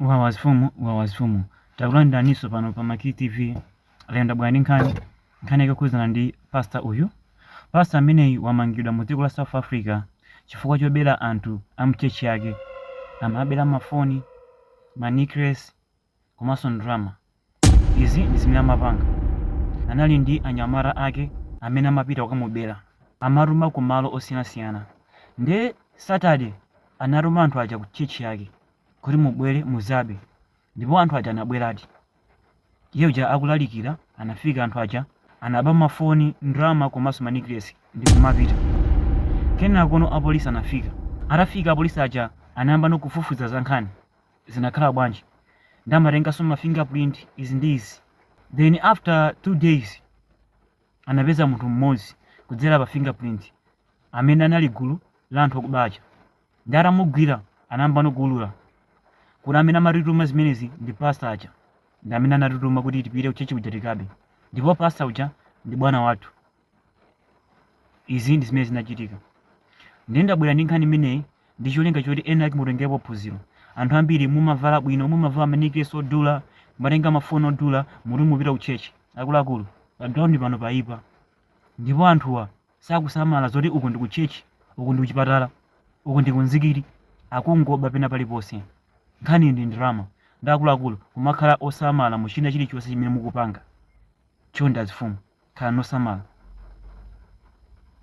Wawa zifumu, wawa zifumu. Takulandiraniso pano pa Makili TV. Lero ndabwera ndi nkhani. Nkhani yake yokhudzana ndi pastor uyu. Pastor ameneyu wamangidwa mu dziko la South Africa chifukwa chobera anthu a mchechi yake. Amabera mafoni, ma necklace, komanso ndalama. Izi ndi zimene amapanga. Anali ndi anyamata ake amene amapita kukamubera. Amatuma ku malo osiyanasiyana. Nde Saturday anatuma anthu aja ku church yake kuti mubwere mudzabe. Ndipo anthu aja anabweradi. Iye uja akulalikira anafika anthu aja anaba mafoni, ndalama komanso ma necklace ndikumapita. Kenakono apolisi anafika. Atafika apolisi aja anayambano kufufuza za nkhani. zinakhala bwanji nde amatenganso ma finger print izi ndi izi then after two days anapeza munthu mmodzi kudzera pa finger print amene anali gulu la anthu okuba aja nde atamugwira anayambano kuulula kuti amene amatituma zimenezi ndi pastor aja ndi amene anatituma kuti tipite kuchechi kuja tikabe ndipo pastor uja ndi bwana wathu Izi ndi zimene zinachitika. Ndiye ndabwera ndi nkhani imeneyi ndi cholinga choti ena ake mutengerepo phunziro. Anthu ambiri mumavala bwino, mumavala manekilesi odula, mumatenga mafoni odula, muti mupita ku church. Akuluakulu, pa ground pano paipa. Ndipo anthuwa sakusamala zoti uku ndi ku church, uku ndi ku chipatala, uku ndi ku mzikiti, akungoba pena paliponse. Nkhani ndi ndalama. Nde akuluakulu kumakhala osamala mu china chilichonse chimene mukupanga. Chonde azifumu khalani osamala.